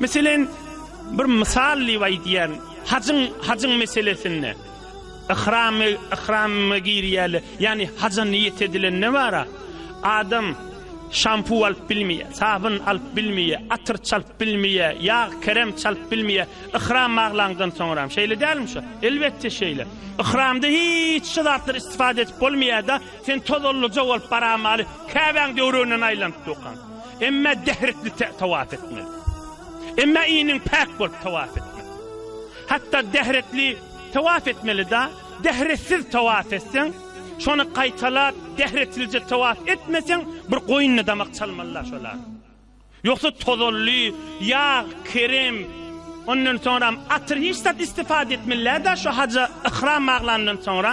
Meselen, bir mysal diýip aýdýan, hajyň, hajyň meselesinde, yhramy, yhrama girýäle, ýagny haja niýet edilende bara, adam şampu alyp bilmeýär, sabyn alyp bilmeýär, atyr çalyp bilmeýär, ýag, kerem çalyp bilmeýär, yhram baglandan soňram. Şeýle dälmi şu? Elbetde şeýle. Yhramda hiç şu zatlar istifade edip bolmaýar-da, sen tozallyja bolup baramaly, Käbäň döwrügünden aýlanyp durkaň. Emmä dährikli tawaf etmeli. Emmä iniň päk bolup tawaf etmeli. Hatda dährikli tawaf etmeli-da, dähretsiz tawaf etseň, şony gaýtalap, dähretsilje tawaf etmeseň, bir goýnuna damak çalmaly-la şolar. Ýogsa tozanly, ýag, kerem, ondan soňram atyr hiç zat istifada etmeli-dä şu haja yhram baglandan soňra.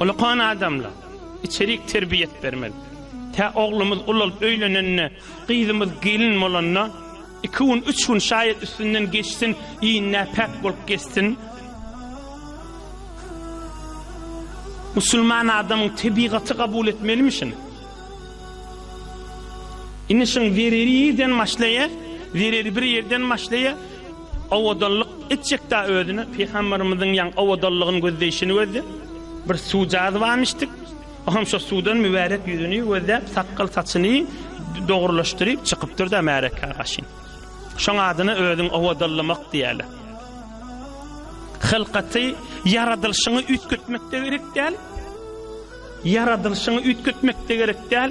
Olakan adamla içerik terbiýet bermeli. Tä oglumyz ulalyp öýlenende, gyzymyz gelin bolanda iki gün, üç gün şaýat üstünden geçsin, iýn näpäk bolup gezsin. Musulman adamyň tebigaty kabul etmelimi şuny? Indi şuň zereri ýerden başlaýar, zereri bir ýerden başlaýar. Owadanlyk etjekdä özüne Pygamberimiziň ýaň owadanlygyny gözleýşini gözle. Bir suw jazybamyşdyk. Oham şo suwdan mübärek ýüzüni gözläp, sakgal saçyny dogrulaşdyryp çykypdyr da märeka gaşyn. Şoň adyna özüň owadanlamak diýäle. Hylkaty ýaradylşyňy üýtgetmek de gerek däl. Ýaradylşyňy üýtgetmek de gerek däl.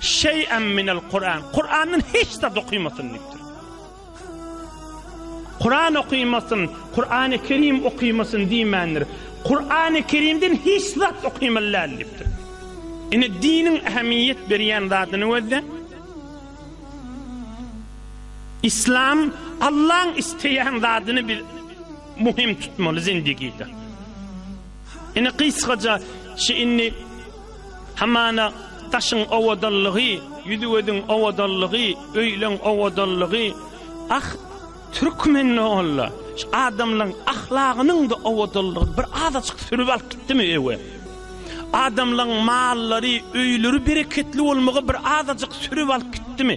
Şey'en minel Kur'an. Kur'an'dan hiç zat okuýmasyn diýipdir. Kur'an okuýmasyn, Kur'an-ı Kerim okuýmasyn diýmändir. Kur'an-ı Kerim'den hiç zat okuýmaly däl diýipdir. Ine diniň ähmiýet berýän zadyny gözle. İslam Allah'ın isteýän zadyny biz muhim tutmaly zindigide. Ine gysgaça şu indi Hamana, daşyň owadanlygy, ýüzügözüň owadanlygy, öýleň owadanlygy, ah, türkmende olla, şu adamlaň ahlagynyň-da owadanlygyny bir azajyk sürüp alyp gitdimi öe? Adamlaň mallary, öýleri bereketli bolmagy bir azajyk sürüp alyp gitdimi?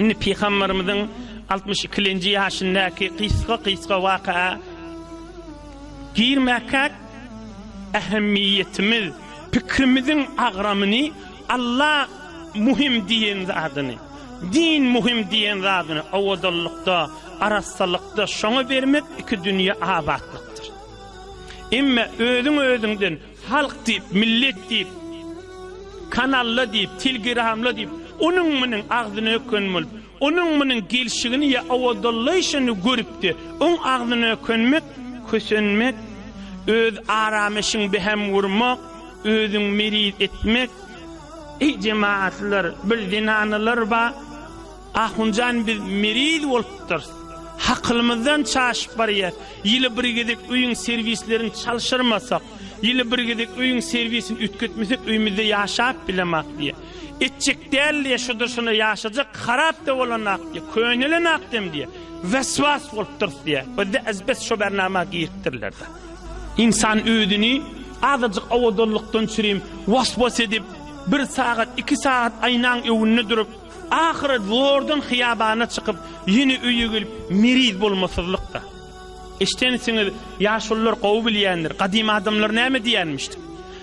Indi pygamberimiziň altmyş ikilenji ýaşyndaky gysga-gysga wakaa girmäkäk ähemmiýetimiz, pikrimiziň agramyny Alla muhim diýen zadyny, din muhim diýen zadyny owadanlykda, arassalykda şoňa bermek iki dünýe abatlykdyr. Emma özüň-özüňden, Halk diýip, millet diýip, kanalla diýip, tilgiramla diýip, onuň-munuň agzyny öken bolup, onuň-munuň gelşigini ýa owadollaýşyny görüp-de, oň agzyny ökenmek, kösenmek, öz arameşiň behäm gurmak, özüň meriz etmek, Eý, jemagatlar, bir zenanylar bar. Ahunjan biz meriz bolupdyrys. Hakylymyzdan çaşyp barýas. Ýyly bir gezek öýüň serwislerini çalşyrmasak, ýyly bir gezek öýüň serwisini üýtgetmesek öýmüzde ýaşap bilemak diýýä. Etjek däl diýýä, şudur-şuna ýaşajak, harap-da bolanak diýýä, könelenok dem diýýä. Weswas bolupdyrys diýýä. Bizde azbest şo bernama giripdirler-de. Ynsan özüni azajyk owadanlykdan çürim was-was edip, bir sagat, iki sagat aýnaň öňünde durup, Ahyry Jordan hyýabanyna çykyp, ýene öýe gelip, meriz bolmasyzlyk-da. Eşdensiňiz, ýaşulylar gowy bilýändir, gadym adamlar näme diýýänmişdik?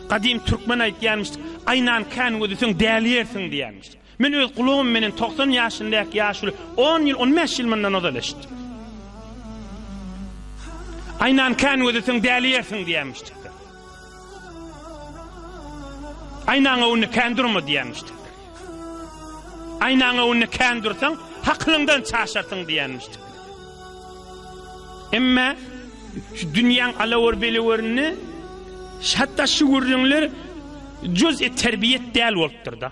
Gadym türkmen aýtýanmyşdyk, Aýnan kän gözüseň, dälýärsiň diýýänmişdik. Men öz gulagym menen togsan ýaşyndaky ýaşuly on ýyl, on bäş ýyl mundan ozal eşitdim. Aýnan kän gözüseň, dälýärsiň diýýänmişdik. Aýnaň öňünde kän durma diýenmişdik. Aýnaň öňünde kän dursaň, hakylyňdan çaşarsyň diýenmişdik. Emma şu dünýäň alawur-belewurynda hatda şu gürrüňler juz-i terbiýet däl bolupdyr-da.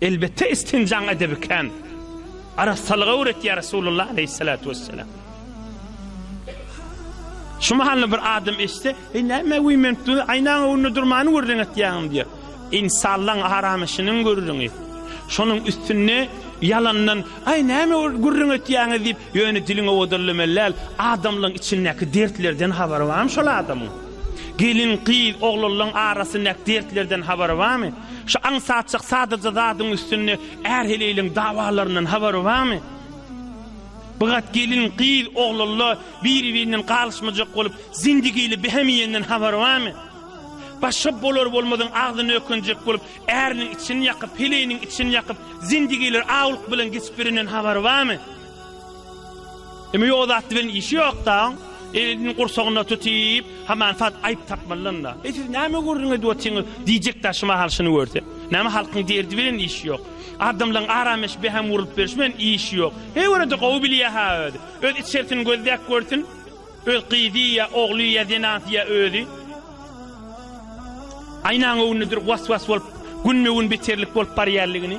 Elbetde istinjaň edebi kän. Arassalygy öwret ýa Resulullah aleýhissalatu wessalam. Şu mahalyny bir adam eşitse, "Eý näme we men tu aýnaň öňünde durmany görüň etýäňim" diýär. Insanlaň haram işiniň görüňi. Şonuň üstünde ýalandan, "Aý näme görüň etýäňiz" diýip, ýöne diliň owadanlamaly däl, adamlaň içindäki dertlerden habary barmy şol adamyň? Gelin, gyz, oglanlaň arasyndaky dertlerden habary barmy? Şu aňsatjak sadaja zadyň üstünde är-heleýliň dawalaryndan habary barmy? Bigat gelin, gyz, oglanlar biri-birinden galyşmajak bolup, zindigili behim iýenden habary barmy? Başga bolar-bolmazyň agzyny ökenjek bolup, äriniň içini ýakyp, heleýiniň içini ýakyp, zindigiler awlyk bilen geçip birinden habary barmy? Emme ýok zat bilen işi ýok daň. Elini gursagyna tutyp, haman sat aýyp tapmalydan-da. Eý siz näme gürrüň edip otyňyz? diýjek daşy mahal şuny görse. Näme halkyň derdi bilen işi ýok. Adamlaň arameş behäm urlup berşi bilen işi ýok. He görede gowy bilýä-ha özi. Öz içersini gözläp görsün. Öz gyzy ýa ogly ýa zenanysy ýa özi. Aýnaň öňünde durup was-was bolup, günbe-gün beterlik bolup barýanlygyny.